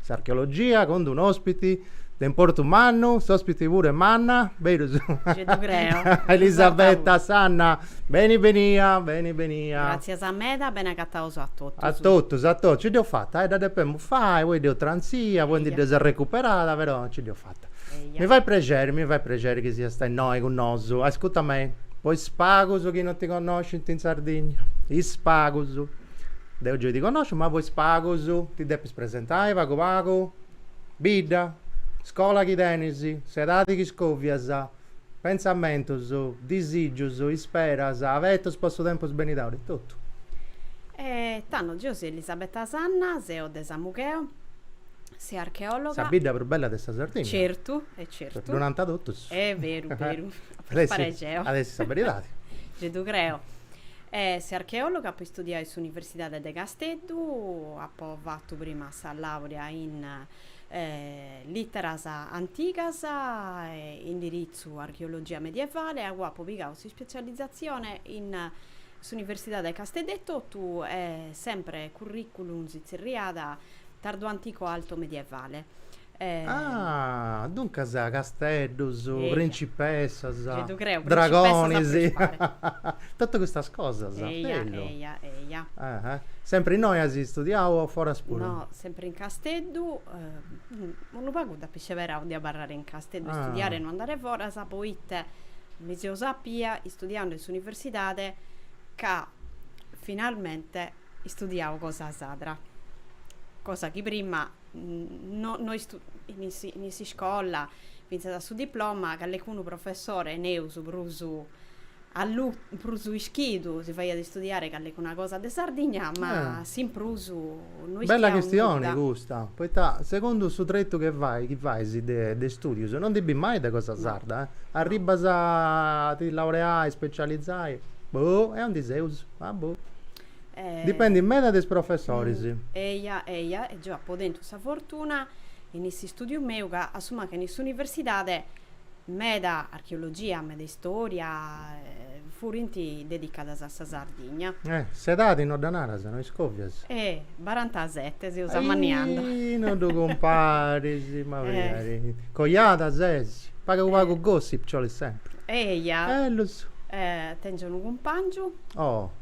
S'archeologia cun d'unu ospiti de importu mannu, s'ospiti puru est manna, berus? Gei ddu creo. Elisabetta Sanna, beni benia, beni benia. Gràtzias meda, beni agataus a totus. A totus, a totus, nci dd'eus fata, eh, dda depemus fai, poi dd'eus trantzia, poi ndi dd'eus arrecuperada, però nci dd'eus fata. Mi fait prexeri, mi fait prexeri chi siasta innoi cun nosu. Ascuta mei, po is pagus chi non ti connoscint in Sardigna, is pagus, deu gei ti connosciu, ma po is pagus ti depis. Presentai pagu pagu? Bidda, scola chi tenis, s'edadi chi scovias, pentzamentus, disìgius, isperas, abetus po su tempus benidori, totu. E tando geo seo Elisabetta Sanna, seo de Samugheo, seo archeòloga. Sa bidda prus bella de sa Sardigna. Certu, e certu. Ddu nanta totus. Est beru, beru. At essi, at essi sa beridadi. Gei ddu creo. E seo archeòloga apo istudiau in s'Universidade de Casteddu, apo fatu prima sa làurea in Lìteras antigas e indiritzu Archeologia medievale e agoa apu pigau s'ispetzializatzione in s'Universidade de Casteddu etotu e sempre currìculum si tzerriat tardoantico-altomedievale. Ah, duncas casteddus, principessas, dragonis, totu custas cosas. Eia, eia, eia. Sempri innoi as istudiau o foras puru? No, sempri in Casteddu, unu pagu dd'apu isceberau de abarrare in Casteddu, istudiare e no andare foras, poita mi seu sapia, istudiandu in s'universidade, ca finalmente istudiau cosa sarda, cosa chi prima no in is iscolas fintzas a su diploma callecunu professore neus prus allu prus ischidu si faiat istudiare callecuna cosa de Sardigna ma s'in prus no ischia nudda. Bella chistioni custa, poita segundu su tretu chi fai chi fais de de istudius no ndi bis mai de cosa sarda, arribbas a ti laureai, specializai, boh, e aundi seus, ah boh Dipendit meda de is professoris. Eia, eia, e geu apu tentu sa fortuna, in s'istùdiu meu, ca a su mancu in s'universidade, meda archeologia, meda istoria, furint dedicadas a sa Sardigna. Eh, s'edadi no dda naras, no iscovias. Eh, barantasete, seus amanniandu. Ahi, no ddu cumparis, mancari. Coiada ses? Pagu pagu gossip ci olit sempri. Eia. Bellus. Eh, tengiu unu cumpangiu. Oh.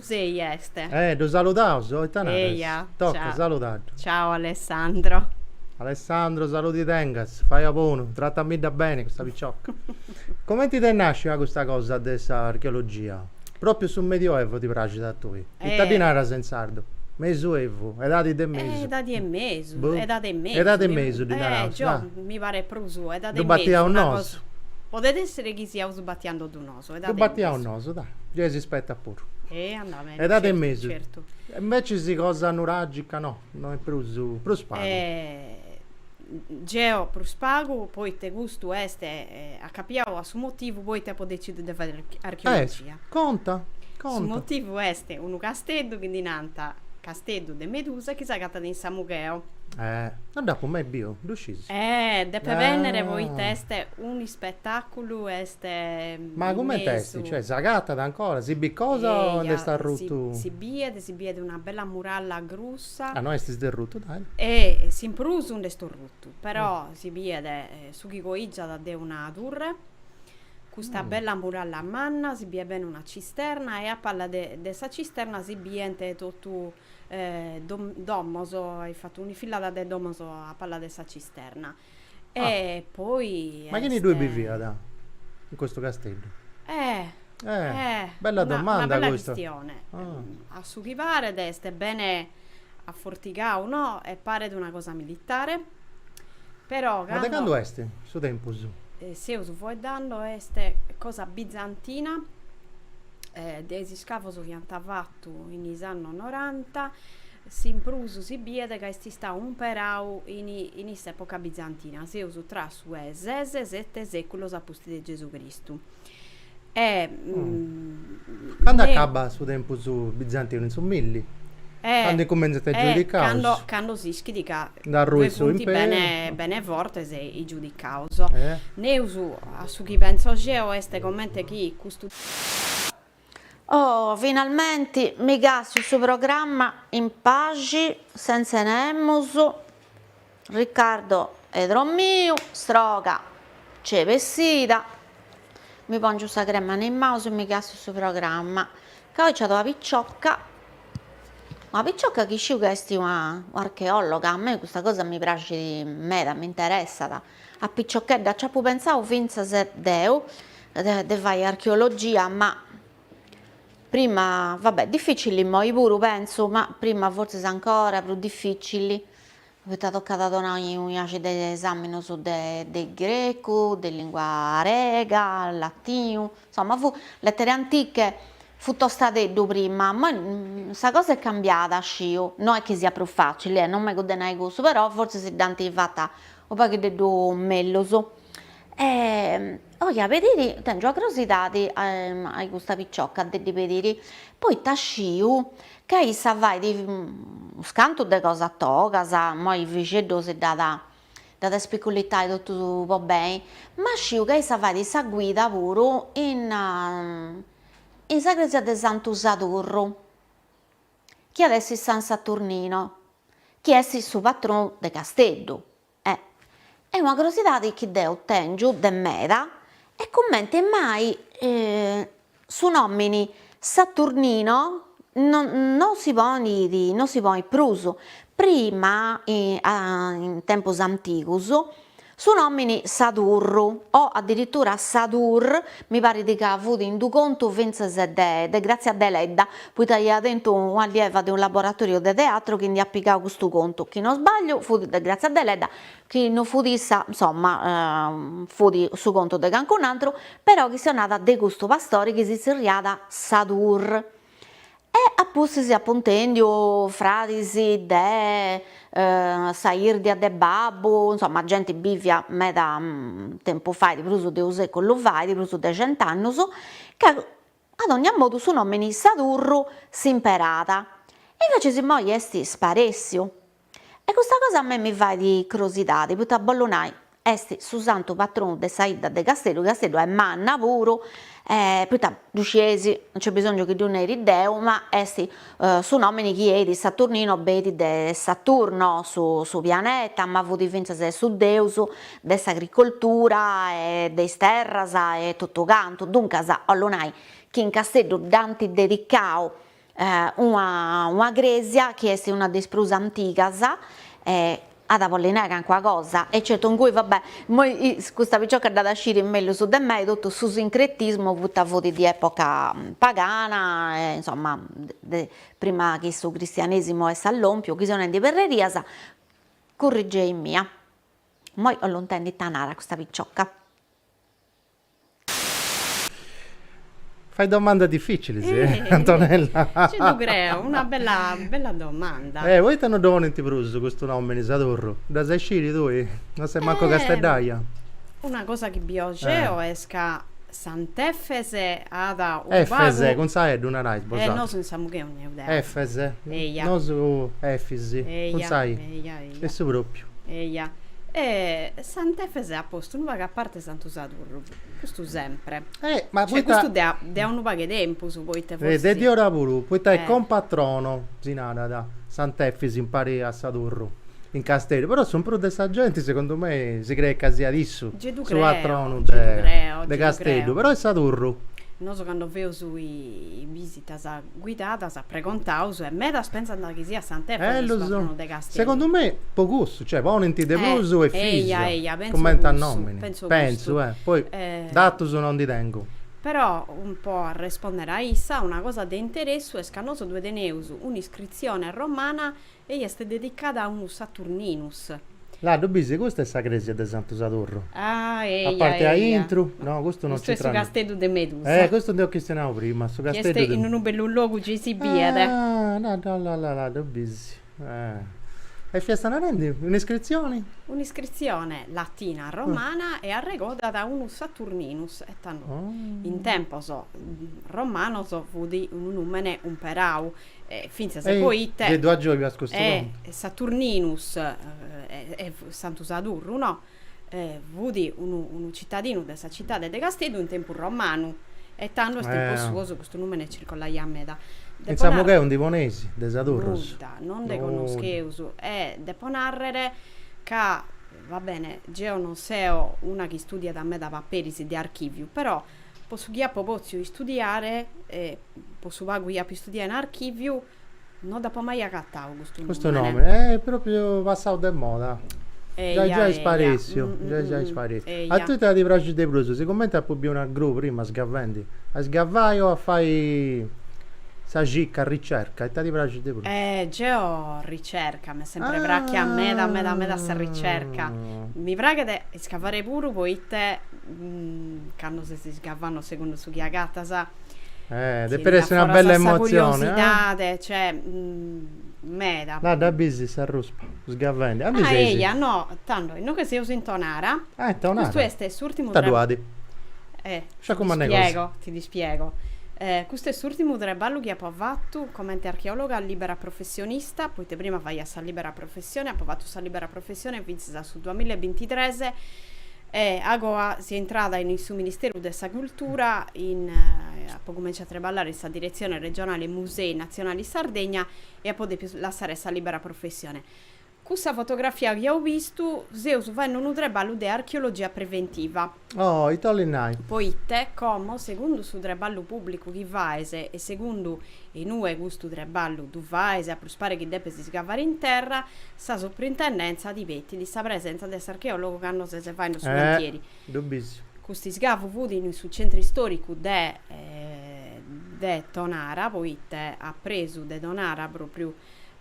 Sei est. Eh, ddu saludaus, oh, ita naras? Eia, Tocat, ciao. saludaddu. Ciao Alessandro. Alessandro, saludi tengas, fai a bonu, tratamidda beni custa picioca. Comenti t'est nàscida custa cosa de sa archeologia? Pròpiu su Medioevu ti praxit a tui? Ita ddi naras in sardu? Mesuevu, edadi de mesu. Edadi 'e mesu, Boh. edadi 'e mesu. Edadi 'e mesu ddi naraus, Eh, geo, dai, mi paret prus edadi 'e mesu. Ddu batiaus nosu. Podet èssere chi siaus batiende·ddu nosu. Ddu batiaus nosu, dai, gei si spetat puru. E andat beni. Edadi 'e mesu. Certu. E invècias cosa nuragica no, no est prus, prus pagu. Geo prus pagu, poita custu est acapiau a su motivu poita apu decidiu de fai archeologia. Eh, conta, conta. Su motivu est unu casteddu chi ddi nant Casteddu de Medusa chi s'agatat in Samugheo. Eh, no dd'apu mai biu, ddu sciis? Eh, depes bennere poita est un'ispetaculu e Ma comente est? Cioè s'agatat ancora? Si bit cosa o nd'est arrutu? Si biet, si biet una bella muralla grussa. Ah, no est isderrutu, dai. E s'in prus nd'est orrutu, però si biet su chi coigiat de una turre, custa bella muralla manna, si biet bene una cisterna e a palla de sa cisterna si bient totu domos, ant fatu un'infillada de domos a palla de sa cisterna. E poi est. Ma chini ddui biviat in custu Casteddu? Eh! Eh! Bella domanda custa. Una bella chistione. A su chi paret est bene afortigau, no? E paret una cosa militare, però cando. Ma de candu est su tempus? Seus fueddando est cosa bizantina de is iscavos chi ant fatu in is annos noranta. S'in prus si biet ca est istau umperau in in s'època bizantina, seus tra su ses e sete sèculos a pustis de Gesù Cristu. Candu acabat su tempus bizantinu, in su milli, candu incumentzant is giudicaus. E candu s'ischit ca funt bene fortes is giudicaus. Nemus, a su chi pentzo geo, est comente chi custu. Oh, finalmenti mi càstiu su programma in paxi, sentze nemus, Riccardo est dromiu, stroga nc'est bessida, mi pongiu sa crema in is manus e mi càstiu su programma, ca oi c'at una piciocca, una piciocca chi sciu ca est una archeologa, a mei custa cosa mi praxit meda, m'interessat A piciochedda nc'apu pentzau fintzas deu de fai archeologia, ma prima, va bè, dificili immoi puru pentzu, ma prima fortzis ancora prus dificili, poita tocat a donai unu sciacu de esaminos de grecu, de lingua grega, latinu Insomma, fu lettere antiche, fu tostadeddu prima, moi sa cosa est cambiada, oi, no est chi siat prus facili, eh, non mengu a nai cussu, però fortzis si dd'ant fata unu paghiddeddu mellus. E oi 'e pediri, tèngio crosidadi a custa picioca de ddi pediri, poita sciu ca issa fait unas cantu de cosas togas, moi Frixeddu si dd'at Dd'at a spiculitai totu po beni, ma sciu ca issa fait sa guida puru in in sa cresia de Santu Sadurru, chi at essi San Saturnino, chi est su patronu de Casteddu. E e una crosidadi chi deu tèngiu de meda est cumenti mai Su nòmini Saturnino no si ponit no si ponit prus, prima in tempus antigus su nòmini Sadurru o addirittura Sadur mi parit ca fut in d'u' contu fintzas de de Grazia Deledda, poita ia tentu un'allieva de unu laboratòriu de teatru chi ndi at pigau custu contu, chi no sbagliu fut de Grazia Deledda, chi no fut issa, insomma, fut su contu de calincun'atru, però chistionàt de custu pastori chi si tzerriada Sadur, e a pustis apu intèndiu fradis de sa 'irdia de babbu, insomma genti bivia meda tempus fait, prus de unu seculu fait, prus de cent'annus, ca a dogna modu su nomini Sadurru s'imperada, e invecias immoi est sparessiu, E custa cosa a me mi fait crosidade, poita bollu nai, est su santu patronu de sa 'idda de Casteddu, Casteddu est manna puru, e poita ddu scieis, non nc'est bisongiu chi ddu neri deo, ma est su nomini chi benit Saturnino benit de Saturno su su pianeta, ma fut fintzas su deus de s'agricoltura e de is terras e totu cantu, duncas 'ollu nai chi in Casteddu dd'ant dedicau Una una crèsia chi est una de is prus antigas e at a bolli nai calincuna cosa e certu ingui va bè, immoi custa picioca dd'at a sciri mellus de mei, totu su sincretismu poita fut di epoca pagana e insomma de prima chi su cristianesimu est allompiu, chi seu nendi perrerias, currigei-mì. Immoi 'ollu intendi ita narat custa picioca Fai domandas dificilis, eh, Antonella. Nci ddu creu, una bella, bella domanda. Eh, poita no ddu ponint prus custu nomini, Sadurru? Dd'as a isciri tui? No ses mancu casteddaja. Una cosa chi biu geu est ca Sant'Efes at u' pagu. Efes, cun sa e ddu narais bosatrus. Eh, nosu in Samugheo naraus de ai. Efes. Eja. Nosu Efis. Eja. Cun sa i. Eja, eja. Essu propriu. Eja. E Sant'Efes at postu unu pagu a parti. Santu Sadurru, custu sempre. Eh, ma cioè, poita... custu de a, de a unu pagu 'e tempus, poita forsi... Eh, de diora puru, poita eh. est compatrono, si narat, Sant'Efis in pari a Sadurru, in Casteddu, però su prus de sa genti, segundu mei, si creet ca siat issu creo, su patronu de, creo, de Casteddu, però est Sadurru. Nosu cando feus is bisitas. guidadas pregontaus e medas pensant chi siat Sant'Efis su patronu de Casteddu. Segundu me po cussu, cioè ponint de prus Efìsiu, cumenti a nomini, pentzu, eh, poi datus no ndi tengu. Però, po arrespondere a issa, una cosa de interessu est ca nosu ddue teneus un'iscritzione romana Ei est dedicada a unu Saturninus. Là ddu bisi? Custa est sa cresia de Santu Sadurru. Ah, eia, eia. A parte a intru? No, custu no nc'intrat. Custu est su casteddu de Medusa. Eh, custu nd'eus chistionau prima, su casteddu de. Chi est in unu bellu logu gei si biet. Ah, là, là, là, là, là ddu bisi. Ah. E fiasta narendi un'iscritzioni? Un'iscritzione latina, romana e arregodat a unu Saturninus e tando. Oh. In tempos romanos fudi unu nùmene umperau fintzas poite. Gei ddu agioigas custu contu. E Saturninus, e Santu Sadurru, no? E fut unu unu citadinu de sa citade de Casteddu in tempus romanu. E tando in tempos suos custu numene circollaiat meda. In Samugheu ndi poneis de Sadurrus? Nudda, non nde connoscheus. E depo narrer ca, va bene, geo non seo una chi studiat meda paperis de archiviu, però Po su chi apo pòtziu istudiare e po su pagu chi apo istudiau in archìviu, no dd'apo mai agatau custu nùmene. Custu nùmene, e est pròpriu passau de moda. Giai giai sparèssiu, giai giai sparèssiu. A tue ita ti praxit de prus? Sigumenti apu biu una gru prima sgavendi, a sgavai o a fai sa cicca, a ricerca, ita ti praxit de prus? Geo ricerca, m'est sempri prachia meda meda meda sa ricerca. Mi praghet isgavari puru poita Cando ses isgavannu segundu su chi agatas. Eh, depit essi una bella emozioni. Curiosidade, cioè meda. La dda bisi s'arruspa sgavendi. Ah, eia, no, tando, innoche seus in Tonara. Ah, in Tonara. Custu est s'urtimu traballu. Ita ddu at? Eh, ti ddu spiego, ti ddu spiego. Custu est s'urtimu traballu chi apo fatu comente archeologa libera professionista, poite prima faia sa libera professione, apo fatu sa libera professione fintzas a su duamilla e bintitres, E agoa seo intrada in su Ministeru de sa Cultura, in, apo cumentzau a treballare in sa Diretzione Regionale Musei Natzionali Sardegna e apo depiu lassare sa libera professione. Cussa fotografia chi aus bistu, seus faende unu treballu de archeologia preventiva. Oh, ite 'olit nai? Poite, como, segundu su treballu pubblicu chi faes e segundu in ue custu treballu ddu faes, a prus pare chi depes iscavare in terra, Sa Suprintendèntzia pretendit sa presenza de s'archeòlogu cando ses faendu su cantieri. Eh, ddu bis. Custu iscavu fut in su centru istòricu de de Tonara, poite a presu de Tonara, pròpriu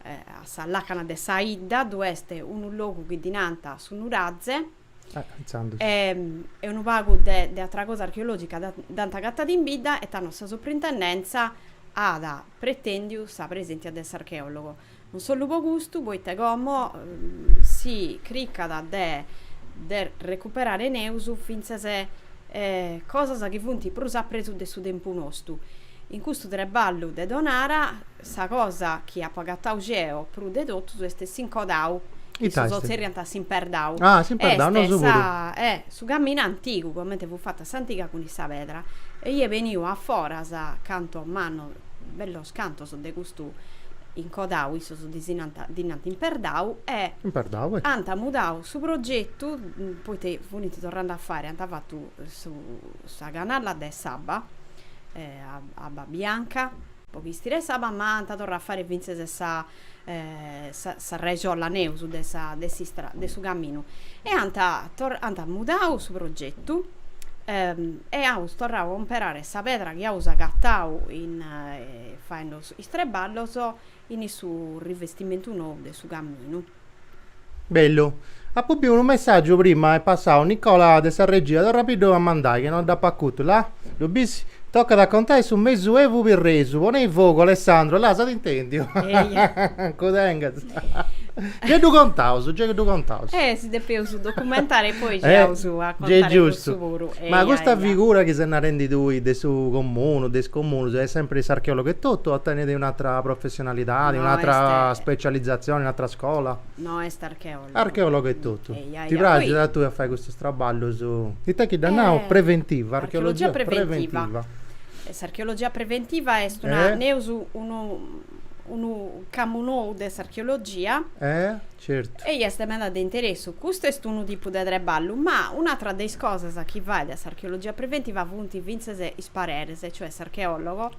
a sa làcana de sa 'idda, ddu est unu logu chi ddi nant su Nuraze. Eh, intzandus. E e unu pagu de de atra cosa archeològica dd'ant agatadu in bidda e tando sa Suprintendèntzia at pretèndiu sa preséntzia de s'archeòlogu. Non solu po custu, poite como si cricat de de recuperare neus fintzas cosas chi funt prus a presu de su tempus nostu. In custu treballu de Tonara sa cosa chi apu agatau geo prus de totu est s'incodau, issos zerriant a s'imperdau. Ah, s'imperdau, nosu puru. Est sa eh su caminu antigu, comente fut fata s'antiga cun sa pedra. Eia beniu a foras cantu mannu bellos Cantos de custu incodau issos ddi si nant, ddi nant imperdau e. Imperdau e. Ant mudau su progetu, poita funint torrande a fare, ant fatu su, sa canalla de s'abba, abba bianca, po chistire s'abba, ma ant torrau a fare fintzes sa. sa regiolla neus de sa de s'istra de su caminu e ant ant mudau su progetu e aus torrau a comperare sa pedra chi aus agatau in faende is treballos in su rivestimentu nou de su caminu Bellu. Apo biu unu messaggiu prima est passau Nicola de sa regia torra a ddu a mandai che no dd'apo acutu la? Ddu bis? Tocat a contai su mesu evu pirresu ponei fogu Alessandro la s'at intendiu ancu tengas gei ddu contaus gei ddu contaus Eh si depeus documentare e poi gei aus a contare cussu puru giustu eia ma custa figura chi ses narendi tui de su comunu de is comunus est sempri s'archeologu etotu o tenit un'atra professioni Professionalidadi, un'atra specializzazioni, un'atra scola? No, est archeologu. Archeologu etotu. Ti praxit a tui a fai custus traballus, ita chi dda nant, preventiva, archeologia preventiva. S'archeologia preventiva est una, neus unu unu campu nou de s'archeologia. Eh, certu. E est meda de interessu. Custu est unu tipu de treballu, ma un'atra de is cosas chi faet s'archeologia preventiva funt fintzes is pareris, e cioè s'archeologo,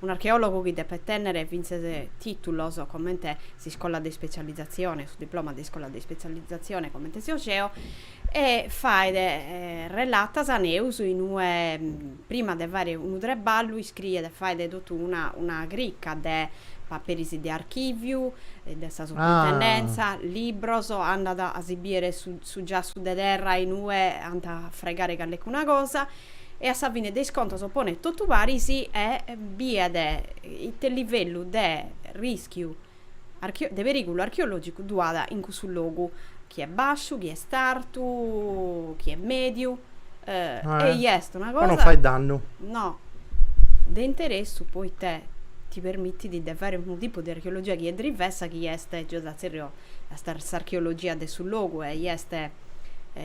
Un'archeòlogu chi depet tènnere fintzes tìtulos comente s'iscola de ispetzializatzione, su diploma de iscola de ispetzializatzione comente so geo, e faet relatas a neus in ue, prima de fare unu treballu, iscriet e faet totu una una crica de paperis de archìviu, de sa suprintendèntzia, libros, andat a si bìdere su su giassu de terra in ue ant a fregare callecuna cosa, e a sa fine de is contos ponet totu apare e biet ite livellu de rischiu de perìgulu archeològicu ddu at in cussu logu, chi est bàsciu, chi est artu, chi est mèdiu, ei est una cosa. Po non fai dannu. No, de interessu poita ti permitit de fai unu tipu de archeologia chi est drivessa chi est, giai ddu at tzerriau, s'archeologia de su logu, ei est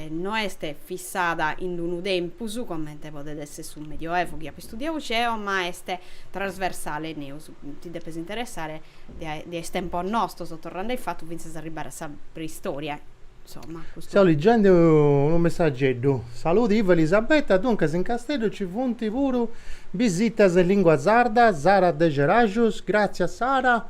no est fissada in unu tempus, comente podet esser su Medioevu chi apo istudiadu geo, ma est trasversale, neus, ti depes interessare de dae is tempos nostos, torrande a in fatu fintzas a arribbare a sa preistoria, insomma, custu. Seu liggende unu messageddu. Saludi Ivo Elisabetta, duncas in Casteddu ci funt puru bisitas in lingua sarda, Sara Degerajus, gràtzias Sara,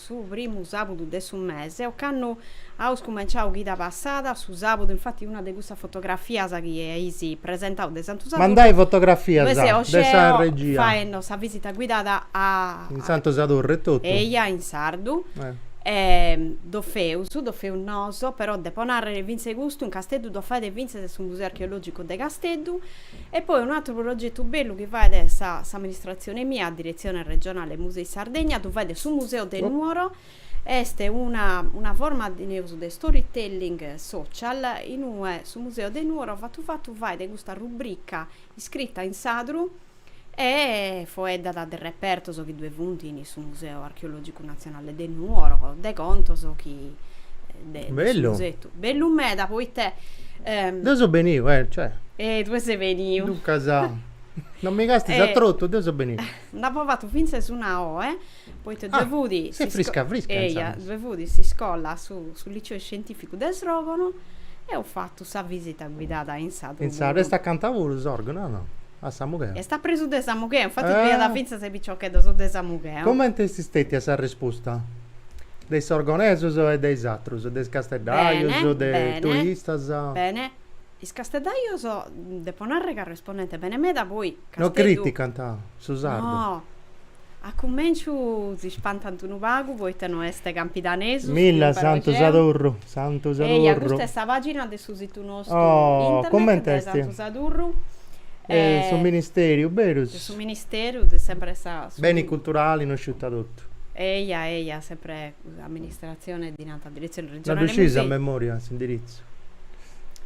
su primu sàbudu de su mese, ocannu aus cumenciau chida passada, su sàbudu, infati una de cussas fotografias chi eis presentau de Santu Sadurnu, Mandai fotografia ddoi, de sa regia. faendo sa visita guidada a. In Santu Sadurnu etotu? Eia, in sardu. E ddoi feus, ddoi feus nosu, però depo nàrrere fintzas custu in Casteddu ddu faet fintzas su Museu Archeològicu de Casteddu, E poi unu atru progetu bellu chi fait s'amministratzione mia, a Diretzione Regionale Musei Sardegna, ddu fait su Museo de Nuoro, est una una forma, neus, de storytelling social, in ue su Museo de Nuoro fatu fatu fait custa rubrica iscrita in sadru E foeddat de repertos chi ddoe funt in su Museu Archeològicu Natzionale de Nuoro, de contos chi de su museu. Bellu meda poita. Deu seu beniu, eh, cioè. E tue ses beniu. Duncas, non mi castis trotu, deu seu beniu. Nd'apo fatu fintzas una oe. Poita ddoe fut s'iscola, su liceo scientificu de Sròrgono, e apo fatu sa visita guidada in sadru. Insaras est acanta puru Sòrgono, o no? A Samugheo. Est a presu de Samugheo, infatis fiat fintzas e piciocheddos de Samugheo. Comente est stetia sa resposta de is sorgonesos e de is atrus, de is casteddajos, de is turistas? Bene, bene. Is casteddajos, depo narrer ca respondent bene meda, poi Casteddu. No criticant su sardu. No. A cumenciu si spantant unu pagu poita no est campidanesu. Milla Santu Sadurru, Santu Sadurru. Eia, custa est sa pagina de su situ nostu internet de Santu Sadurru. De su ministeriu, berus. De su ministeriu, de sempre sa. Beni culturali no sciu ita totu. Eia, eia, sempre. Amministratzione dinanta a Diretzione Regionale Musei. Ddu sciis a memoria s'indiritzu?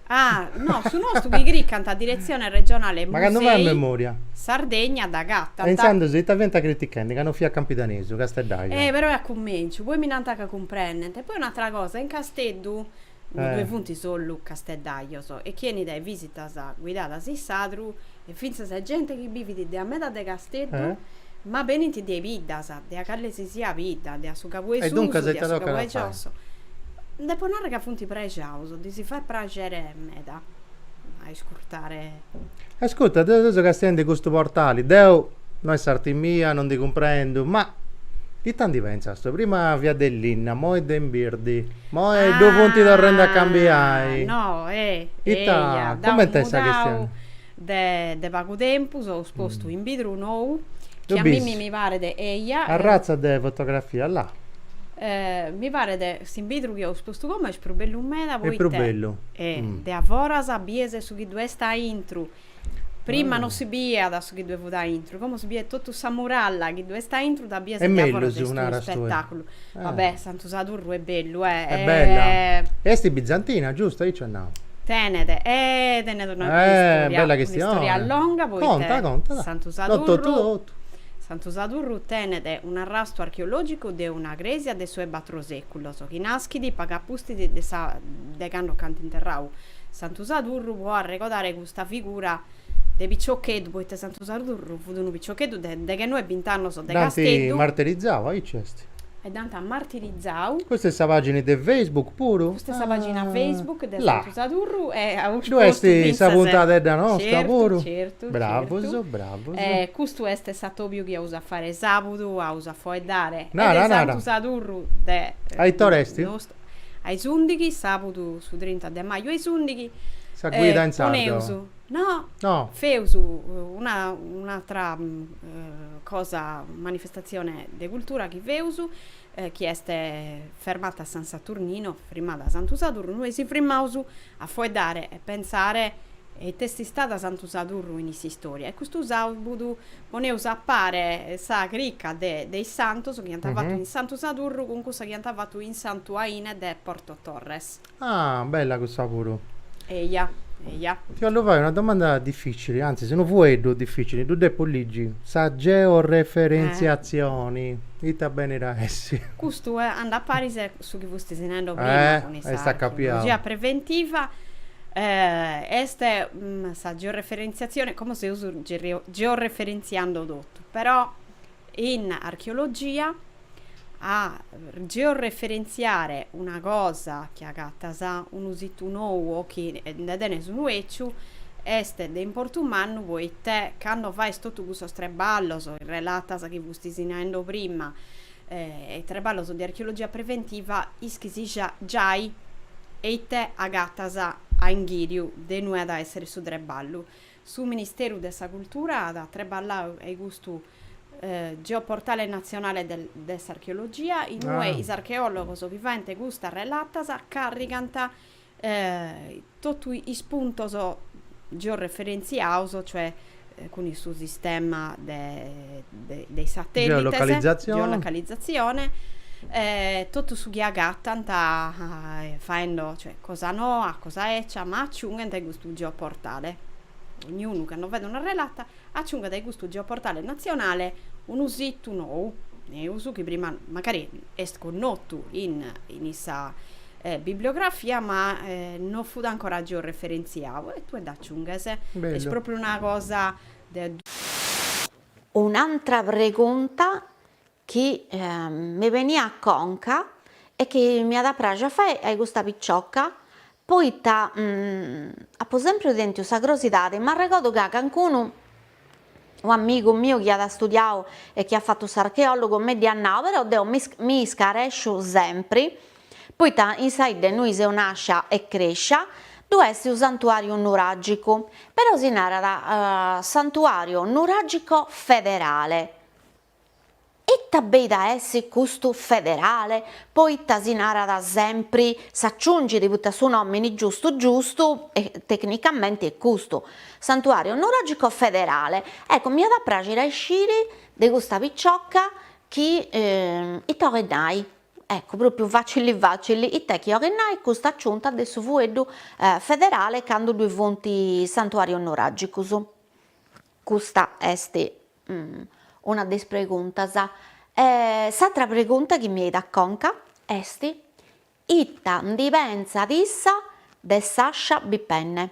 Ah, no, su nostru chi cricant a Diretzione Regionale Musei. M'acantu fai a memoria? Sardegna dd'agatant. E intzandus ita fiant critichendi ca no fiat campidanesu, casteddaiu? Eh, però est a cumenciu, poi mi nant ca cumprendent. E poi un'atra cosa, in Casteddu ddoe funt sollu casteddajos, e chi 'enit a is visitas guidadas in sadru, e fintzas e gente chi bivit de a meda de Casteddu, ma benint de a is biddas, de a cale si siat bidda, de a su cabu 'e susu, de a su cabu 'e giosso. Depo narrer ca funt prexaus, ddis fait praxere meda a iscurtare. Ascurta, deu seu castiende in custu portali, deu, no est s'arti mia, no ndi cumprendu, ma. Ita ndi pentzas tue, prima fiat de linna, moi est de imbirdi, moi ddu funt torrendi a cambiai. Ah, no, eh. Ita, cumenti est sa chistioni? Deu de pagu tempus so postu imbidru nou, chi a mimmi mi paret, eia. Arratza de fotografia, là. Mi paret, s'inbidru chi so postu como est prus bellu meda, poita. Est prus bellu. De a foras bies su chi ddu est aintru, prima non si biiat su chi ddu fut aintru, como si biet totu sa muralla chi ddu est aintru dda bies de a foras, est unu spettaculu, va bè Santu Sadurru est bellu eh, est bella, est bizantina giusto aici nau? Tenet eh tenet una bella istoria longa poita Santu Sadurru, Santu Sadurru tenet un'arrastu archeologicu de una cresia de su 'e batru seculos chi naschit pagu apustis de sa de cando nc'ant interrau Santu Sadurru pro arregodare custa figura de piciocheddu, poita Santu Sadurru fut unu piciocheddu de deghenoe bint'annos de Casteddu. Dd'ant martirizau, aici est. E dd'ant martirizau. Custa est sa pagina de Facebook puru? Custa est sa pagina Facebook de Santu Sadurru e as postu fintzas. Ddu est sa puntadedda nosta puru. Certu, certu. Bravus, bravus. E custu est s'atobiu chi aus a fare sabudu, aus a foeddare e de Santu Sadurru de. A it'or'est? a is ùndighi, sàbudu su trinta de maju a is ùndighi. Sa guida in sardu. Poneus, no, feus una un'atra cosa, manifestatzione de cultura chi feus, chi est Fermata San Saturnino, Frimmada Santu Sadurru, nos si frimmaus a fueddare e pentzare ite est istada Santu Sadurru in s'istòria e custu sàbudu Poneus a pare sa crica de is santus chi ant fatu in Santu Sadurru cun cussa chi ant fatu in Santu Aine de Porto Torres. Ah, bella cussa puru. Eia, eia. Ti 'ollu fai una domanda dificili, antzis unu fueddu dificili, ddu depu ligi, sa georeferentziatzioni ita benit a essi? Custu andat a paris a su chi fustis nendo prima cun is sa archeologia preventiva, est sa georeferentziatzioni, como seus Georeferentziando totu, però in archeologia a georeferentziare una cosa chi agatas unu situ nou o chi nde tenes unu èciu est de importu mannu poite cando fais totu custos treballos, is relatas chi fustis naendo prima e treballos de archeologia preventiva ischis giai eite agatas a inghìriu de inue at a èssere su treballu. Su Ministeru de sa Cultura at treballau e custu geoportale natzionale de s'archeologia, inue is archeòlogos chi faent custas relatas càrrigant totu is puntos georeferentziaos, cioè cun su sistema de de is satèllites, geolocalizatzione, totu su chi agatant faendo, cioè cosa noa, cosa ecia, ma aciunghent a custu geoportale, dognunu cando fait una relata aciunghet a custu geoportale natzionale unu situ nou, neus, chi prima mancari est connotu in sa bibliografia ma non fut ancora georeferentziau e tue dd'aciunghes, est pròpriu una cosa de Un'antra pregunta chi mi beniat a conca e chi m'iat a praxi a fai a custa picioca, poita apu sempriu tentiu sa crosidadi, m'arregodu ca cancunu, un'amigu miu chi at studiau e chi at fatu s'archeologu mi dd'iat nau, però deu mi iscaresciu sempri poita in sa 'idda innui seu nàscia e crèscia ddu est unu santuàriu nuràgicu, però si narat santuàriu nuràgico federale. Ita beit a essi custu federale, poita si narat sempri, s'aciungit poita su nòmini giustu giustu e tecnicamenti est custu, santuàriu nuràgico federale. Ecco, m'iat a pràxiri a isciri de custa piciocca chi ita 'olit nai. Ecco, pròpiu facili facili, it'est chi 'olit nai custa aciunta de su fueddu federale candu ddui funt santuàrius nuràgicus? Custa est una de is preguntas. E s'atra pregunta chi mi 'eit a conca est, ita ndi pentzat issa de s'ascia bipenne?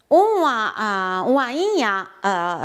Un'aina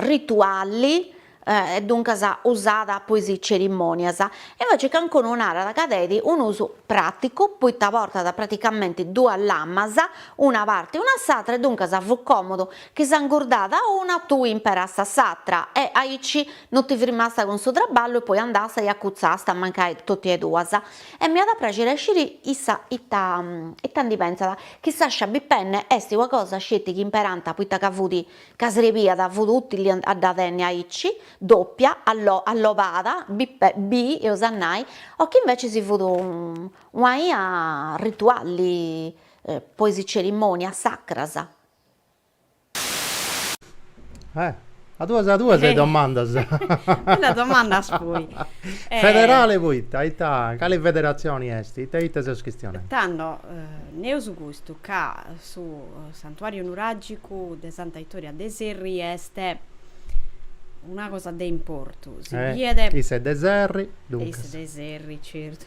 rituali e duncas usada po is cerimonias, e invece cancunu narat ca tenit un'usu praticu poita portat praticamenti duas lamas, una parti e una s'atra e duncas fut comodu chi s'ingurdada una tui imperasta s'atra e aici no ti firmasta cun su traballu e poi andasta e acutzasta mancai totu e duas. E m'iat a praxiri a sciri issa ita ita ndi pensat. Chi s'ascia bi penne est ua cosa sceti chi imperanta poita ca fudi ca srebiada fudi utili a a dda tenni aici, doppia, allo allopada, bi pe bi eus a nai, o chi invecisi fudi ua ia ritualli po is cerimonias sacras. Eh, a duas a duas e domandas. Bellas domandas poi. Eh. Federale poita? Ita, cale federatzioni est? Ita e ita seus chistionendi? Tando, naraus custu, ca su santuàriu nuràgicu de Santa Itoria de Serri est una cosa de importu. Si biet. Is de Serri, duncas. Is de Serri, certu.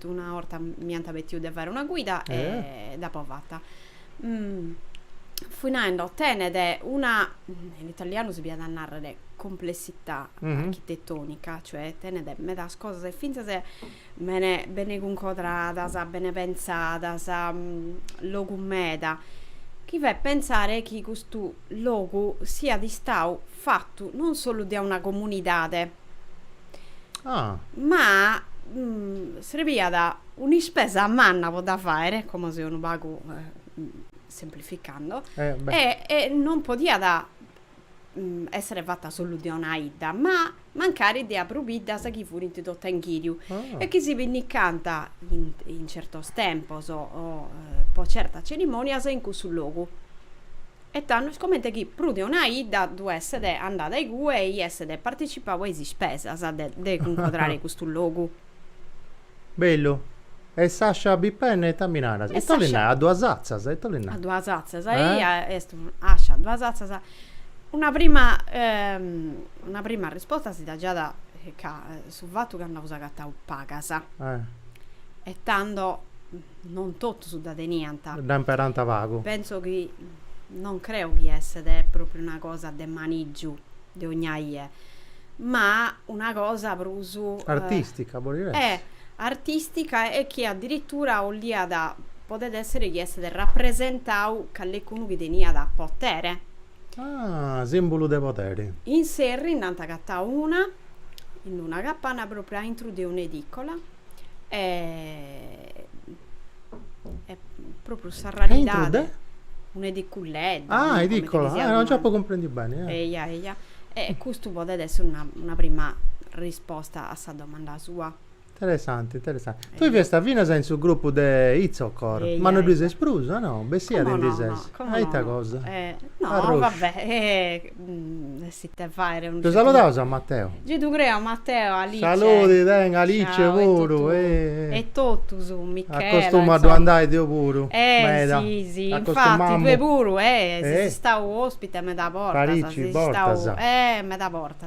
Una 'orta mi ant petiu de fare una guida e dd'apo fata. Fui naendo, tenet una, in italianu si diat a nàrrere complessità architetonica, cioè tenet medas cosas e fintzas bene bene cuncodradas, bene pentzadas, logu meda, chi fait pentzare chi custu logu siat istadu fatu non solu dae una comunidade, Ah. Ma mm, srebiat un'ispesa manna po dda fàere, como seu unu pagu semplificando, eh, e, e non podiat mm, èssere fata solu de una 'idda, ma mancari de prus biddas chi furint totu a inghìriu ah. e chi si pinnicant in, in certos tempos o, o po certas cerimònias in cussu logu. E tandus comente chi prus de una 'idda ddu esset andada igue e esset participau a is ispesas de de cuncodrare custu logu. Bellu. E s'ascia bipenne ita mi naras? Ita li narat? A duas atzas? Ita li narat? A duas atzas. Eia est ascia a duas atzas. Una prima una prima arrisposta si dda giada ca su fatu ca nd'eus agatau pagas. E tando Non totus dda teniant. Dda imperànt pagu. Pentzo chi, non creu chi esset pròpriu una cosa de manìgiu de ogna ie, ma una cosa prus. Artìstica podit essi. Eh! Artìstica e chi adiritura 'olliat, podet èssere chi esset rapresentau callecunu chi teniat potere. Ah, sìmbulu de poderi. In Serri nd'ant agatau una, in una capana pròpriu a intru de un'edìcola, e pròpriu s'arraridadi, un'ediculedda, ah, edìcola, ah, non nc'apu cumprendiu beni. Eia, eia. E custu podet essi una prima risposta a sa domanda sua. Interessante, interessante. Tui fiasta finas in su grupu de Itzocor, ma no ddui ses prus, ah no? Bessia ti ndi ses. A ita cosa? No, va bè, est ite fait. Ddu saludaus a Mateo? Gei ddu creu a Mateo, a Alice. Saludi, tenga, Alice puru. E totus, Michela. Acostumu a ddu andai deu puru, meda. Eh si, si, infati, tue puru, eh, ses istau ospite meda bortas. Parici bortas. Eh, meda bortas.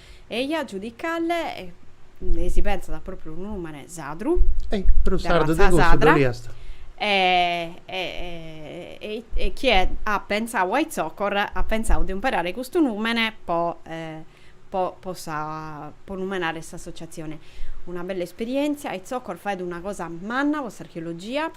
Eja giudicalle e si pentzat a propriu unu numene sadru. E prus sardu de cussu ddoi est. E, e, e, e chie at pentzau a Itzocor at pentzau de umperare custu numene po, po, po sa, po numenare s'associazione. Una bella esperientzia, Itzocor faet una cosa manna po s'archeologia,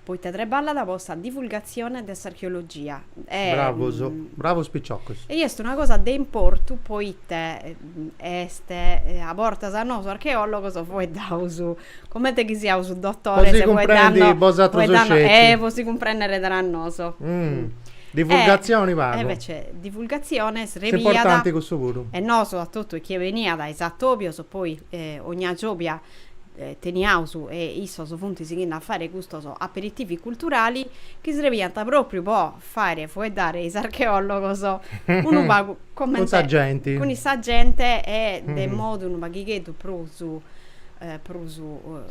poite treballat po sa divulgazione de s'archeologia. Bravos, bravos piciocos. E est una cosa de importu poite est a bortas a nosu archeologos fueddaus comente chi siaus dotores e fueddanno, fueddanno, eh po si cumprennere tra noso. Divulgatzioni pagu. E invece divulgatzione srebiat. Est importanti cussu puru. E nosu a totu chie beniat is atobios poi ogna giòbia teniaus e issos funt sighindo a fàere custos aperitivi culturali chi srebiant pròpriu po fàere fueddare is archeòlogos unu pagu comente cun sa genti cun is sa gente e de modu unu paghigheddu prus prus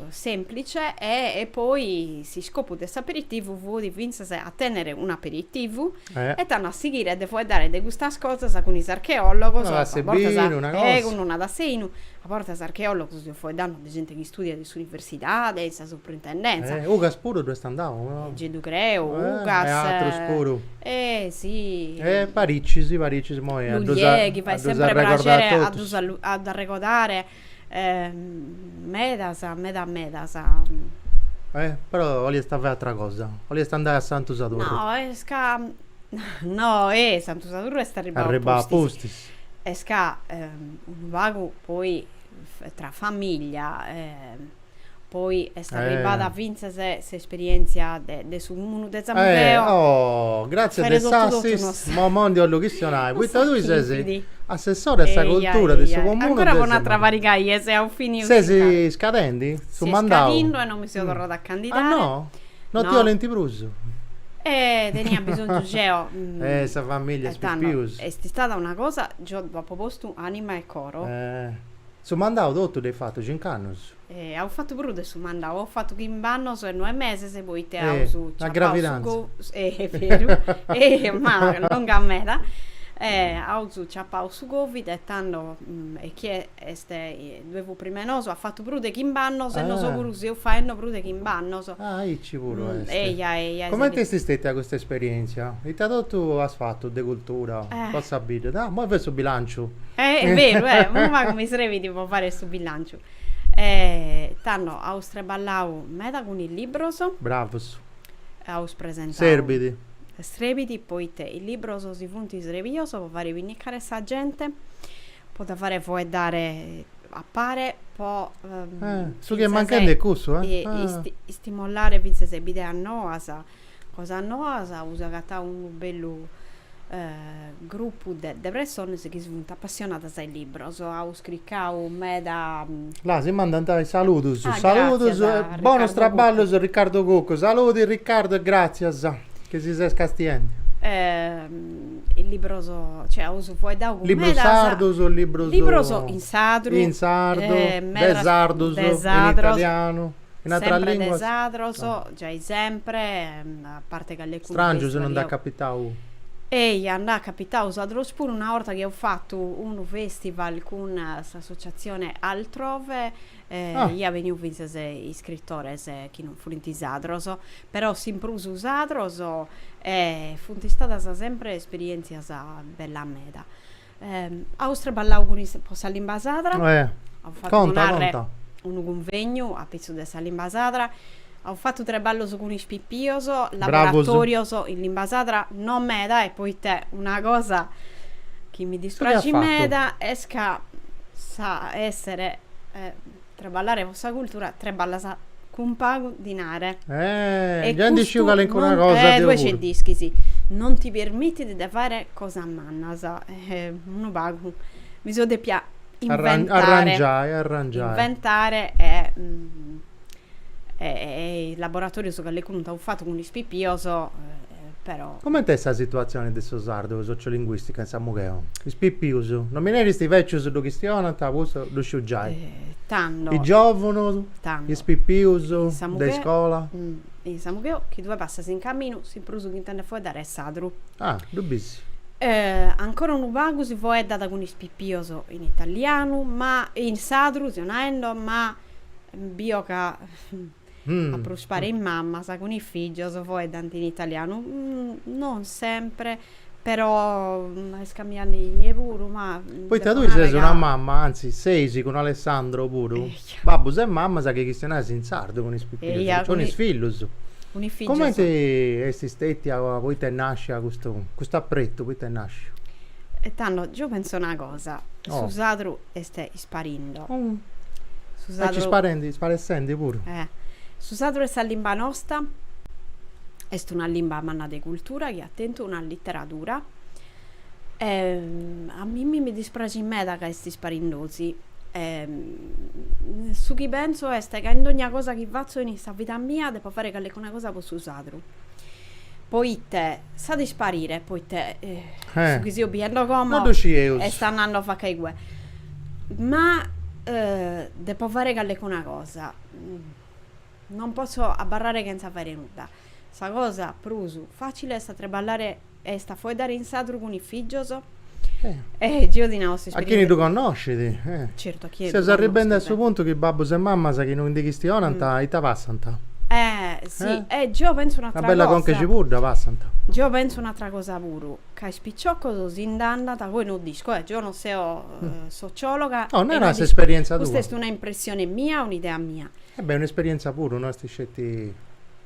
sèmplice e poi s'iscopu de s'aperitivu fut fintzas a tènnere un'aperitivu E tanno a sighire de fueddare de custas cosas cun is archeòlogos, cun una tassa 'e binu, a bortas archeòlogos seo fueddanno de gente chi studiat in s'universidade, in sa suprintendentza. Ugas puru ddoi est andau, no? Gei ddu creu, Ugas. E atrus puru. E si. E Paricis, Paricis, moi a ddus arregodare a totus. Lugliè chi fait semper prexeri a ddu arregodare. E medas, meda medas. E però 'oliast fai atra cosa, 'oliast andai a Santu Sadurru. No, est ca, no, e Santu Sadurru est arribbau apustis. Arribbau apustis. Est ca unu pagu poi tra famiglia poi est arribbada fintzas s'esperièntzia de su cumunu de Samugheo. Oh, gràtzias de s'assist, immoi ndi 'ollu chistionai, poita tui ses assessora a sa cultura de su comunu de Samugheo. Ancora po un'atra pariga 'e dies a fini. Ses iscadendi su mandau? Seu iscadindu e non mi seu torrada a candidai. Ah no? No ti 'olint prus? Eh, tenia bisonzu geo. Eh, sa familia est pius pius. Est istada una cosa, geo dd'apo postu anima e coro. Su mandau totu dd'heis fatu cinc'annus. E haus fatu prus de su mandau, haus fatu chimb'annus e noe meses poite haus ciappau su. Una gravidanza. Eh, est beru, e ma longa meda. E haus ciappau su Covid e tando e chie est ddue fut prima 'e nosu at fatu prus de chimb'annus e nosu puru seus faendi prus de chimb'annus. Ah, aici puru est. Eja, eja. Comente est stètia custa esperièntzia? Ita totu as fatu de cultura po sa bidda? Dà, imoi fait su bilànciu. Est beru, eh! Unu pagu mi srebit po fai su bilànciu. Tando, aus treballau meda cun is libros. Bravus. Aus presentau. Serbit. Srebit poita is libros si funt srebius po fare pinnicare sa gente. po dda fare foeddare a pare po su chi est manchende est cussu istimolare fintzas is bideas noas cosas noas aus agatau unu bellu grupu de pressones chi funt apassionadas a is libros aus cricau meda là si mandant is saludus saludus e bonus traballus Riccardo Cuccu saludi Riccardo e gratzias chi si ses castiende is libros, cioè aus fueddau cun medas... Libros sardus, libros... Libros in sadru. In sardu, de sardus, in italianu, in ateras limbas. Sempre de sadros, giai sempre, a parte calecu... Strangius non nd'at capitau. Eia, nd'at capitau is atrus puru, una 'orta chi aus fatu unu festival cun s'associatzione Altrove, iat benniu fintzas iscritores chi non furint sadros, Però s'in prus sadros e funt istadas sempre esperientzias bellas meda. Aus traballau cun is po sa limba sadra, aus fatu po narre unu cunvegnu apitzus de sa limba sadra, aus fatu traballos cun is pipios, laboratorios in limba sadra, no meda e poite una cosa chi mi dispraxit meda est ca sa essere Treballare po sa cultura treballas cun pagu dinare. Eh, già ndi sciu calencuna cosa deu puru. Eh, tue ge dd'ischis. Non ti permitit de fare cosas mannas. Eh, unu pagu mi so depia inventare. Arrangiai, arrangiai. Inventare e e is laboratorius calencunu nd'aus fatu cun is pipios. però. Comente est sa situatzione de su sardu sociolinguìstica in Samugheo? Is pipius, no mi neris is bècius ddu chistionant, custu ddu sciu giai. Tando. Is giòvunus, is pipius de iscola. In Samugheo, chi tue passas in caminu, su prus chi intendes foeddare est sadru. Ah, ddu bis. Ancora unu pagu si foeddat cun is pipius in italianu, ma, in sadru, seo naendo, ma, bio ca. A prus parte is mamas cun is fìgios foedhant in italianu, non sempre, però est cambiende inie puru, ma. Poita tui ses una mama, anzi seis cun Alessandro puru, babbus e mamas chi chistionais in sardu cun is pipius, cun is fillus. Cumenti est stètia poita est nàscia custu, custu apretu, poita est nàsciu? E tando, geo pentzu una cosa, su sadru est. Parindo. Su sardu. Est sparendi, sparessendi puru. Eh. Su sadru est sa limba nosta est una limba manna de cultura chi at tentu una literadura e a mimmi mi dispraxit meda ca est isparindosi e su chi pentzu est ca in dogna cosa chi fatzu in sa vida mia depo fai callecuna cosa po su sardu poite s'at isparire poite su chi seo biendo como est andando a faca igue. Ma depo fare callecuna cosa. Non posso abbarrare chentza fare nudda. Sa cosa prus facile est a treballare est a foeddare in sadru cun is fìgios. E geo ti nau A chini ddu connoscit. Certu, a chini ddu connoscit. Seus arribendi a su puntu chi babbus e mammas chi no ndi chistionant ita passant. Eh, si. E geo pentzu un'àtera cosa. Una bella conca 'e cibudda passant. Geo pentzu un'àtera cosa puru. Ca is piciocos si nd'andant poi no dd'isco. Eh, geo no seo sociologa. No, nara s'esperienza tua. Custa est una impressione mia, un'idea mia. E beh, un'esperienza puru, no est sceti.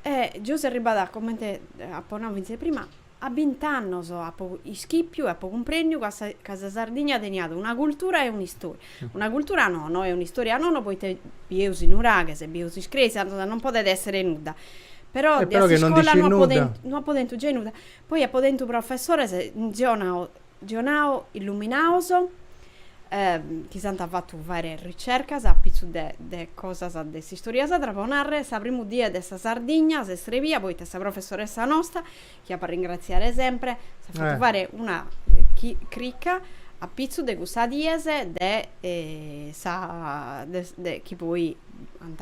E geo seo arribada, comente apo nau fintzes prima, a bint'annos apo ischipiu e apo cumprendiu ca sa ca sa Sardigna teniat una cultura e un'istoria. Una cultura no, no, e un'istoria no, no, poita bieus is nuraghes e bieus is cresias, non podet esser nudda. Però dae s'iscola no apo tentu gei nudda. Poi apo tentu professores geo nao geo nao illuminaos chi s'ant fatu fare ricercas a pitzu de de cosas de s'istoria sadra, po nàrrere, sa primu die de sa Sardigna s'est srebia poita sa professoressa nosta, chi apo a ringratziare sempre, s'at fatu fare una crica a pitzu de custas dies de sa de chi poi ant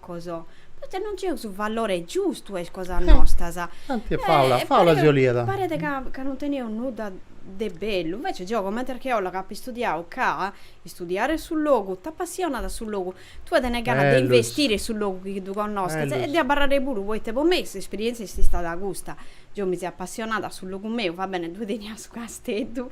Coso. Poita non nc'eus su valore giustu a is cosas nostras. Tanti est fàula, fàula si 'oliat. Paret ca ca non teneus nudda de bellu. Invece geo comente archeòloga apu istudiau ca istudiare su logu t'apassionat su logu, tue tenes ganas de investire su logu chi ddu connosches e de abarrare puru poita po mei s'esperièntzia est istada custa. Geo mi seo apassionada a su logu meu, va bene ddue tenia su casteddu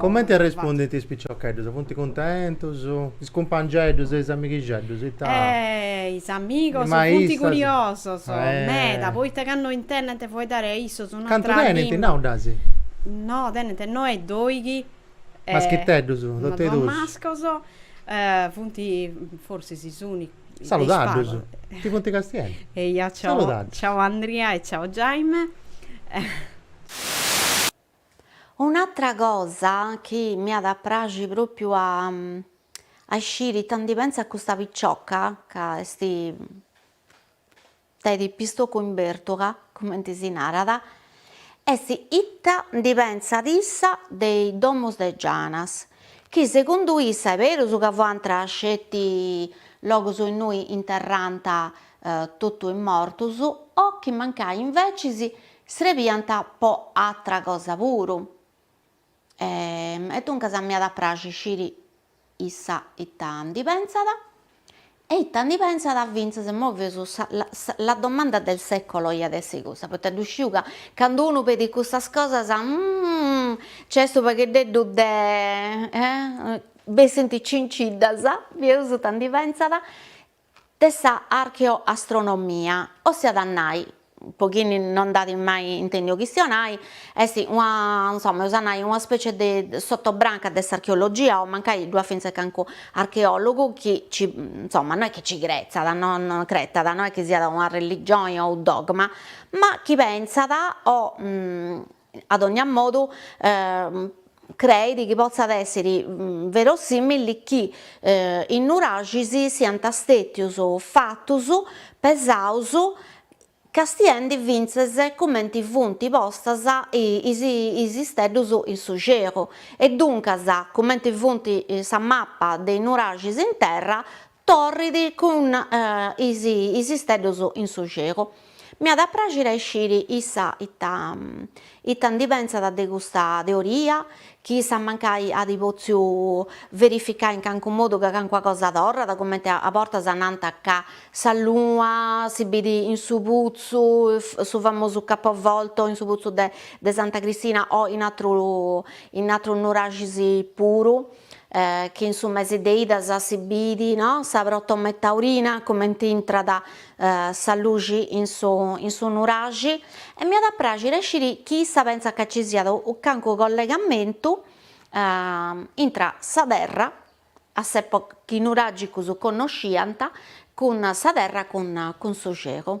Comente arrespundint is piciocheddus? Funt cuntentus? Is cumpangeddus e is amighixeddus ita. Is amigos funt curiosos meda poita candu intendent fueddare a issos un'atra. Cantu tenint nau dd'as? No, tenint noe e doighi. Maschiteddus, totu e dus. Mascos, funt forsis is unicus. Saludaddus, ti funt castiendi. Eia, ciau Andria e ciau Jaime. Un'atra cosa chi m'iat a praxi pròpiu a a isciri ita ndi pentzat custa picioca, ca est de pistocu in bertula, cumenti si narat, est ita ndi pentzat issa de is domus de Gianas, chi segundu issa est berus ca fuant sceti logus innui interrànt totu is mortus, o chi mancai invecis Srebiant po atra cosa puru. E e duncas m'iat a praxi sciri issa ita ndi pensat e ita ndi pensat fintzas imoi fius sa la domanda del secolo iat essi cussa poita ddu sciu ca candu unu pedit cussas cosas nc'est unu pagheddeddu de bessint cinciddas, fius ita ndi pensat de sa archeoastronomia, ossiat a nai, po chi no nd'at mai intendiu chistionai, est una insoma eus a nai una specie de sotobranca de s'archeologia o mancai ddu at fintzes cancu archeologu chi ci insoma no est chi ci cretzat o no cretat no est chi siat una religioni o unu dogma, ma chi pentzat o A dònnia modu, creit chi potzat èssere verosìmili chi is nuraxis siant stètius fatus pesaus castiendi fintzes cumenti funt postas is isteddus in su xelu e duncas cumenti funt sa mapa de is nuraxis in terra Torrit cun is is isteddus in su celu. M'iat a praxire a isciri issa ita ita ndi pentzat de custa teoria, chi issa mancai at potziu verificai in cancu modu ca cancuna cosa torrat, cumenti a bortas nant ca sa luna si biri in su putzu, su famosu capovolto in su putzu de de Santa Cristina o in atru in atrus nuraxis puru. chi in su mesi de idas si bidi no sa protome taurina cumenti intrat sa luxi in su in su nuraxi e m'iat a praxire a sciri chi issa pentzat ca ci siat cancu collegamentu intra sa terra a s'epoca chi is nuragicus connosciant cun sa terra cun cun su celu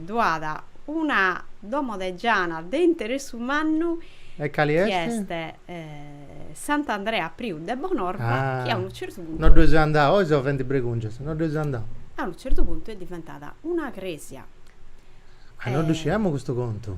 Ddu at una domo de giana de interessu mannu E cali est? chi est Sant'Andrea Priu de Bonorva chi a unu certu puntu. No dd'eus andau, oi sovent bregùngias, no dd'eus andau. A unu certu puntu est diventada una crèsia. Ah, no ddu sciamus custu contu.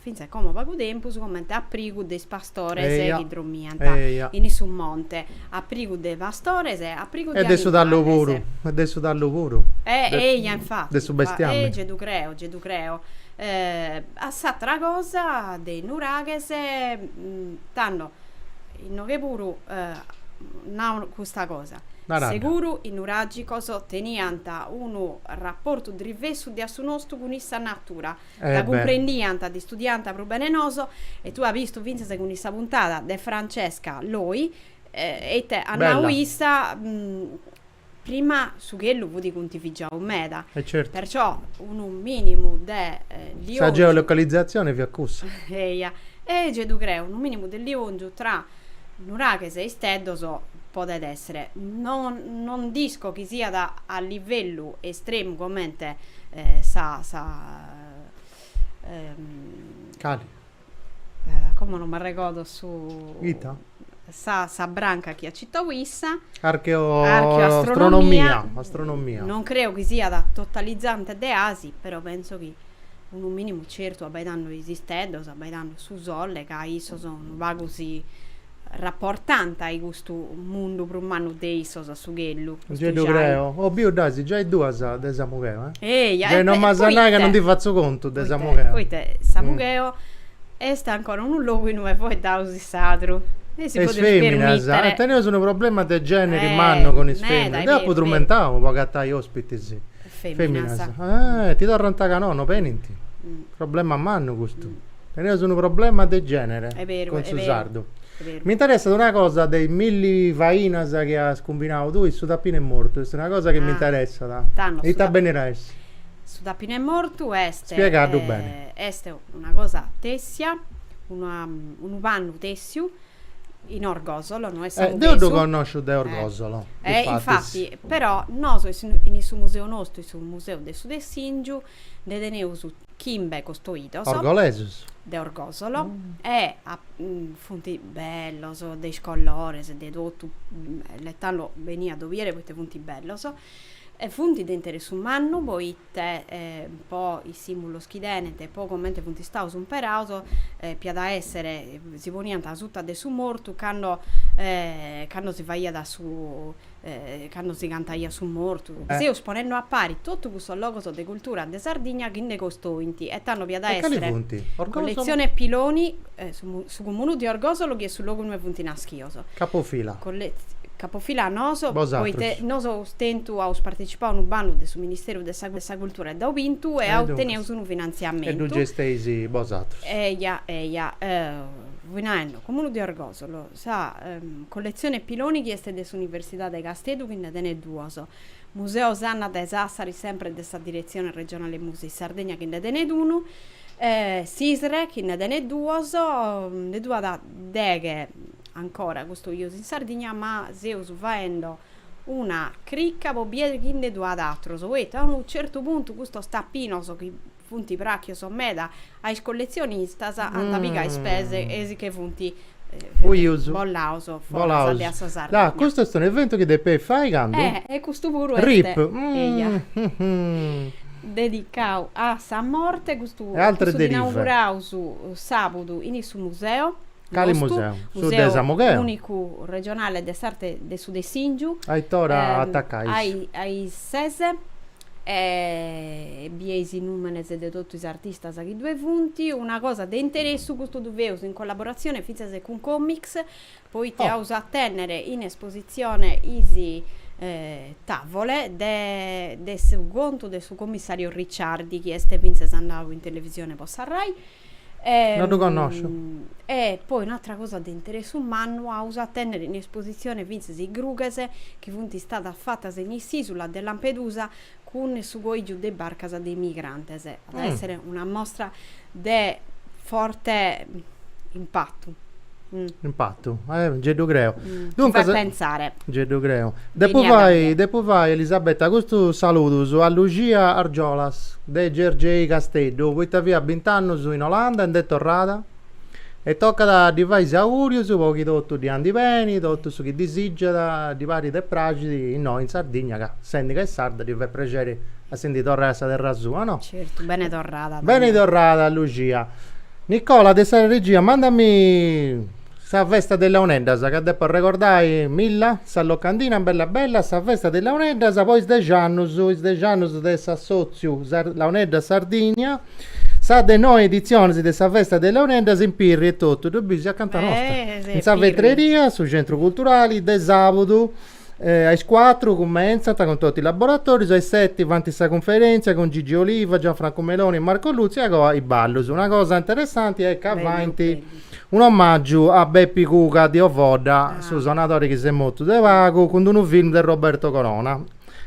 fintzas como pagu tempus, comente aprigu de is pastores chi dromiant in su monte, aprigu de pastores, aprigu de animales. E de su tallu puru, e de su tallu puru. Eia, infati. De su bestiamini. E gei ddu creo, gei ddu creo. A s'atera cosa de is nuraghes, tando, inoghe puru nau custa cosa, seguru is nuragicos teniant unu raportu drivessu de a su nostu cun sa natura. Ca cumprendiant dd'istudiànt prus bene 'e nosu e tue as bistu fintzas cun sa puntada de Francesca Loi e ite at nau issa prima su chellu fut cuntivigiau meda perciò unu minimu de liongiu sa geolocalizzazione fiat cussa eia e gei ddu creu unu minimu de liongiu tra Nuraghes e isteddos, podet èssere. No no dd'isco chi siat a livellu estremu comente sa sa Cale? Como non m'arregordo su. Ita? Sa sa branca chi at citau issa. Archeo Archeoastronomia. Astronomia. Non creo chi siat totalizante de asi, però penso chi Unu minimu certu abbaidando is isteddos, abbaidando su sole, ca issos unu pagu si rapportant a-i custu mundu prus mannu de issos, a su chellu. Giai ddu creo. Oh, biu dd'as giai duas de Samugheo, eh? Eja, e, e, poita? Non m'as a nai ca non ddi fatzu contu de Samugheo. Poita, Samugheo est ancora unu logu innui est foeddau su sadru. E si podit permitere. E is feminas, teneus unu problema de generi mannu cun is feminas. Deu apu trumentau po agatai ospitis. Feminas. Eh, ti torrant ca no, no benint. Problema mannu custu. Teneus unu problema de genere cun su sardu. Mi interessat una cosa de is milli fainas chi as cumbinau tui, su tapinu 'e mortu, est una cosa chi mi interessat. Tando. Ita benit a essi? Su tapinu 'e mortu est. Spiegaddu beni. Est una cosa tessia, unu pannu tessiu in Orgosolo, no est sa Eh, deu ddu connosciu de Orgosolo, eh, difatis. infati, però, nosu in su museu nostru, in su museu de su Tessìngiu, nde teneus chimbe costoidos. Orgolesus. De Orgosolo, e funt bellos, de is colores, de totu, e tando beni a ddu bìere poita funt bellos, e funt de interessu mannu poita e po is sìmbulos chi tenent e po comente funt istaus imperaus, podiat a èssere, si poniant asuta de su mortu cando cando si faiat su, cando si cantaiat su mortu. Seus ponende a pari totu custos logos de cultura de Sardigna chi nde costoint e tando iat a èssere colletzione Piloni, Su Comunu de Orgosolo chi est su logu ue funt naschios. Capofila. Capofila noso. Bosatrus. Poite nosu aus tentu, aus partetzipau unu bandu de su Ministeriu de sa Cultura e dd'aus bintu e aus, teneus unu finantziamentu. E ddu gesteis bosatrus. Eja, eja. Fui naendu, Comunu de Orgosolo, sa colletzione Piloni chi est de s'Universidade 'e Casteddu chi nde tenet duos. Museo Sanna de Sassari sempre de sa Diretzione Regionale Musei Sardegna chi nde tenet unu e s'ISRE chi nde tenet duos, nde ddu at deghe ancora custoios in Sardigna ma seus faende una cricca po bier chi nde ddu at atrus poita a unu certu puntu custos tapinos chi Funt pràchios meda a is colletzionistas, ant pigau is pes e si che funt bollaus foras de sa Sardigna. Ah, custu est un'eventu chi depei fai candu? Eh, e custu puru est. Rip. Eia. Dedicau a sa morte, custu dd'inauguraus sàbudu in su museu, cali museu? Su de Samugheu, Museu Ùnicu Regionale de s'Arte de su Dessìngiu, a is ses. E bie is nùmenes de totu is artistas chi ddue funt. Una cosa de interessu, custu ddu feus in collaboratzione fintzas cun Comix, poita aus a tènnere in espositzione is tàvole de su contu de su commissario Ricciardi, chi est fintzas andau in televisione po sa Rai, No ddu connosciu. E poi un'atra cosa de interessu mannu aus a tènnere in espositzione fintzas is grughes chi funt istadas fatas in s'ìsula de Lampedusa cun su coìgiu de is barcas de is migrantes. At a èssere una mostra de forte impatu. Impatu, eh, nci ddu creu. Mi fait pensare. Nci ddu creu. Depu fai, depu fai, Elisabetta, custus saludus a Luxia Argiolas, de Gergei Casteddu, poita fiat bint'annus in Olanda e nd'est torrada e tocat a ddi fai is augùrius po chi totu ddi andit beni, totu su chi disìgiat, ddi parit e praxit innoi in Sardigna, ca sendi ca est sarda ddi fait prexeri a si ndi torrai a sa terra sua, no? Certu, beni torrada. Beni torrada Luxia. Nicola de sa regia mandami sa festa de Launeddas ca depo arregordai Milla, sa locandina bella bella, sa festa de Launeddas po is dexannus, is dexannus de s'assotziu Launeddas Sardigna, sa de noi editzionis de sa festa de Launeddas in Pirri etotu, ddu bis, acanta nosta, in sa vetreria, su centru culturali, de sabudu A is cuatru cumentzant cun totu is laboratorius, a is seti faint sa cunferentzia cun Gigi Oliva, Gianfranco Meloni e Marco Lutzu e a coa is ballus. Una cosa interessanti est ca faint un'omàgiu a Bepi Cuga de Ovodda, su sonadori chi s'est mortu de pagu, cun d'unu film de Roberto Corona.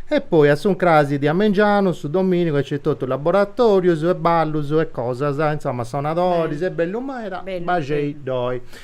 E poi a s'uncrasi de a mengianu, su domìnigu nc'est totu laboratorius e ballus e cosas, insoma sonadoris, est bellu meda, baxei·ddoi.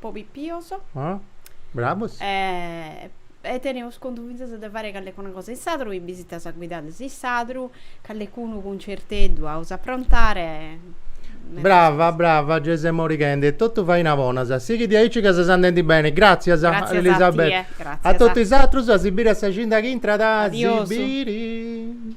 po pipios. Oh, bravos. E teneus contu fintzas de fare callecuna cosa in Sadru, bìsitas guidadas in Sadru, callecunu cuncerteddu aus a aprontare. Brava, brava, gei ses morighende. Totu faina bona. Sighi diaici ca ses andendi bene. Gràtzias, Elisabetta. Gràtzias a tie. A totu is atrus, a si biri a sa cida chi intrat. Adiosu. A si biri.